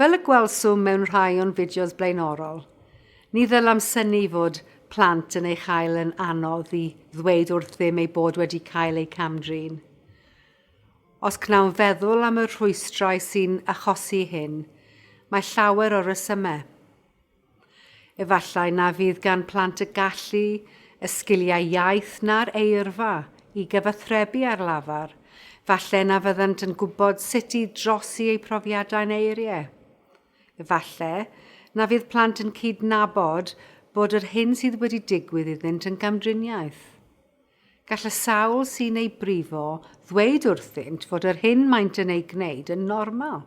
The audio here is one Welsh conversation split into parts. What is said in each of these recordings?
Fel y gwelswm mewn rhai o'n fideos blaenorol, ni ddylam syni fod plant yn ei chael yn anodd i ddweud wrthym eu bod wedi cael eu camdrin. Os cnawn feddwl am y rhwystrau sy'n achosi hyn, mae llawer o resymau. Efallai na fydd gan plant y gallu, y sgiliau iaith na'r eirfa i gyfathrebu ar lafar, falle na fyddant yn gwybod sut i drosi eu profiadau'n eiriau. Efallai na fydd plant yn cydnabod bod yr hyn sydd wedi digwydd iddynt yn gamdriniaeth. Gall y sawl sy'n eu brifo ddweud wrthynt fod yr hyn maent yn ei gwneud yn normal.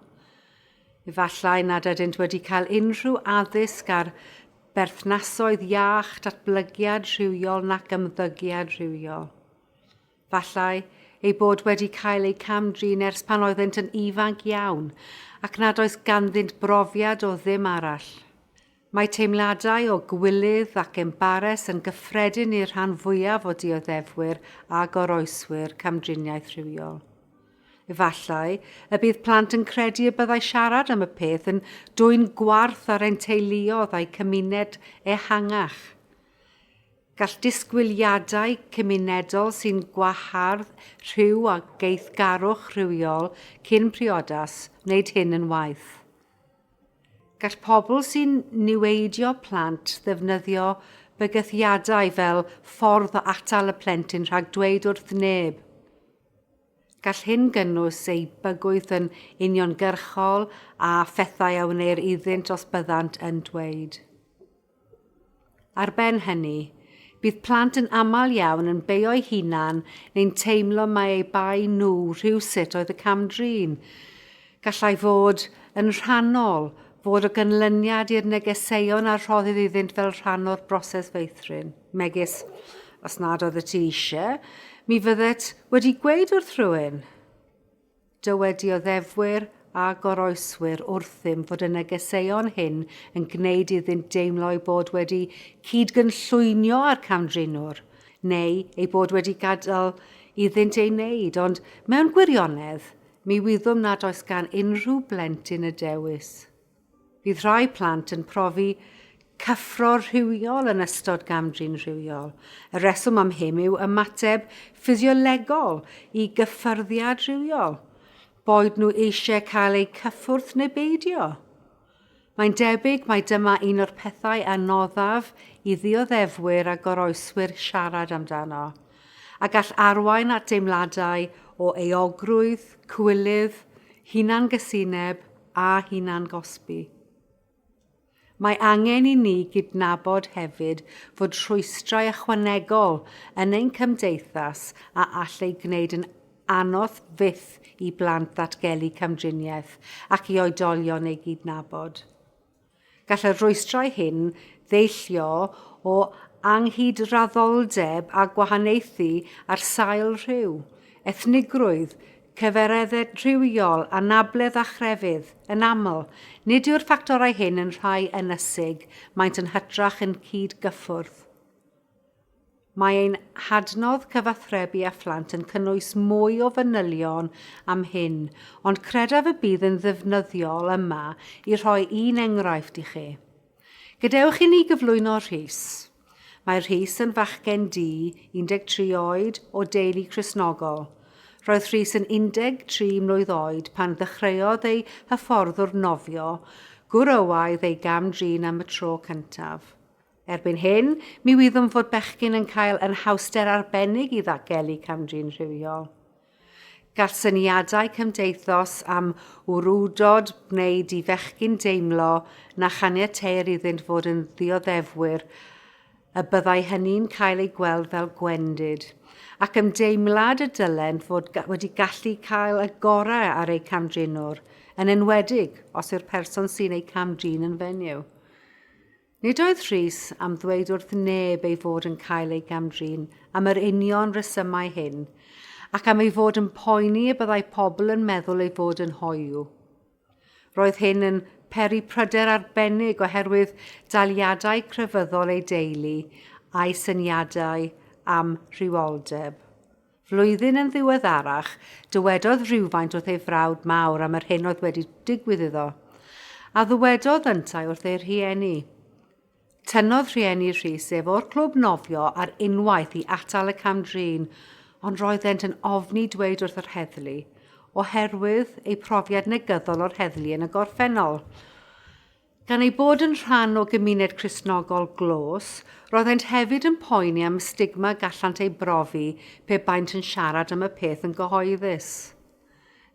Efallai nad ydynt wedi cael unrhyw addysg ar berthnasoedd iach, datblygiad rhywiol nac ymddygiad rhywiol. Efallai eu bod wedi cael eu cam-drin ers pan oeddynt yn ifanc iawn ac nad oes ganddynt brofiad o ddim arall. Mae teimladau o gywilydd ac embares yn gyffredin i'r rhan fwyaf o dioddefwyr a goroeswyr camdriniaeth rhywiol. Efallai y bydd plant yn credu y byddai siarad am y peth yn dwyn gwarth ar ein teuluoedd a'u cymuned ehangach. Gall disgwyliadau cymunedol sy'n gwahardd rhyw a geithgarwch rhywiol cyn priodas wneud hyn yn waeth. Gall pobl sy'n niweidio plant ddefnyddio bygythiadau fel ffordd o atal y plentyn rhag dweud wrth neb. Gall hyn gynnwys eu bygwth yn uniongyrchol a phethau a wneir iddynt os byddant yn dweud. Ar ben hynny, bydd plant yn aml iawn yn beio'u hunan neu'n teimlo mai eu bai nhw rhywsut oedd y cam-drin. Gallai fod yn rhannol, fod o ganlyniad i'r negeseuon a rhoddir iddynt fel rhan o'r broses feithrin, megis, Os nad oeddet ti eisiau, mi fyddet wedi gweud wrth rhywun. Dywedioddefwyr a goroeswyr wrthym fod y negeseuon hyn yn gwneud iddynt deimlo eu bod wedi cyd-gynllwynio â'r camdrinwr, neu eu bod wedi gadael iddynt ei wneud, ond mewn gwirionedd, mi wyddom nad oes gan unrhyw blentyn y dewis. Bydd rhai plant yn profi cyffro rhywiol yn ystod gam-drin rhywiol. Y rheswm am hyn yw ymateb ffisiolegol i gyffyrddiad rhywiol, boed nhw eisiau cael eu cyffwrdd neu beidio. Mae'n debyg mai dyma un o'r pethau anoddaf i ddioddefwyr a goroeswyr siarad amdano, a gall arwain at deimladau o euogrwydd, cywilydd, hunangysineb a hunangosbi. Mae angen i ni gydnabod hefyd fod rhwystrau ychwanegol yn ein cymdeithas a all ei gwneud yn anodd fyth i blant ddatgelu camdriniaeth ac i oedolion ei gydnabod. Gall y rhwystrau hyn ddeillio o anghydraddoldeb a gwahaniaethu ar sail rhyw, ethnigrwydd, cyfaredded rhywiol, anabledd a chrefydd. Yn aml, nid yw'r ffactorau hyn yn rhai ynysig, maent yn hytrach yn cyd-gyffwrdd. Mae ein hadnodd cyfathrebu â phlant yn cynnwys mwy o fanylion am hyn, ond credaf y bydd yn ddefnyddiol yma i rhoi un enghraifft i chi. Gadewch i ni gyflwyno Rhys. Mae Rhys yn fachgen du, 13 oed, o deulu Cristnogol. Roedd Rhys yn 13 mlwydd oed pan ddechreuodd ei hyfforddwr nofio, gwrywaidd ei gam-drin am y tro cyntaf. Erbyn hyn, mi wyddwn fod bechgyn yn cael anhawster arbennig i ddagelu cam-drin rhywiol. Gall syniadau cymdeithos am wrywdod wneud i fechgyn deimlo na chaniateir iddynt fod yn ddioddefwyr, y byddai hynny'n cael ei gweld fel gwendid, ac ymdeimlad y dylent fod wedi gallu cael y gorau ar eu cam-drinwr, yn enwedig os yw'r person sy'n eu cam-drin yn fenyw. Nid oedd Rhys am ddweud wrth neb ei fod yn cael ei gam-drin am yr union resymau hyn, ac am ei fod yn poeni y byddai pobl yn meddwl ei fod yn hoyw. Roedd hyn yn peri pryder arbennig oherwydd daliadau crefyddol ei deulu a'i syniadau am rhywioldeb. Flwyddyn yn ddiweddarach, dywedodd rywfaint wrth ei frawd mawr am yr hyn oedd wedi digwydd iddo, a ddywedodd yntau wrth ei rhieni. Tynnodd rhieni Rhys ef o'r clwb nofio ar unwaith i atal y cam-drin, ond roeddent yn ofni dweud wrth yr heddlu, oherwydd eu profiad negyddol o'r heddlu yn y gorffennol. Gan eu bod yn rhan o gymuned Cristnogol glos, roeddent hefyd yn poeni am y stigma gallant ei brofi pe baent yn siarad am y peth yn gyhoeddus.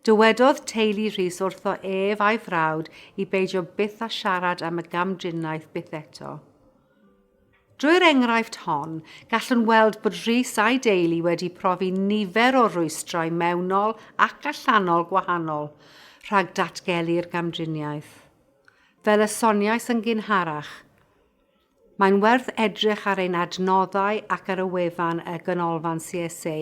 Dywedodd teulu Rhys wrtho ef a'i frawd i beidio byth â siarad am y gamdriniaeth byth eto. Drwy'r enghraifft hon, gallwn weld bod Rhys a'i deulu wedi profi nifer o rwystrau mewnol ac allanol gwahanol rhag datgelu'r gamdriniaeth. Fel y soniais yn gynharach, mae'n werth edrych ar ein adnoddau ac ar y wefan y Ganolfan CSA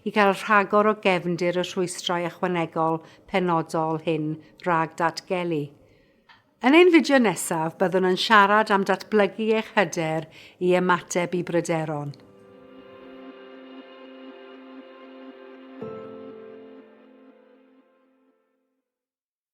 i gael rhagor o gefndir y rhwystrau ychwanegol penodol hyn rhag datgelu. Yn ein fideo nesaf, byddwn yn siarad am datblygu eich hyder i ymateb i bryderon.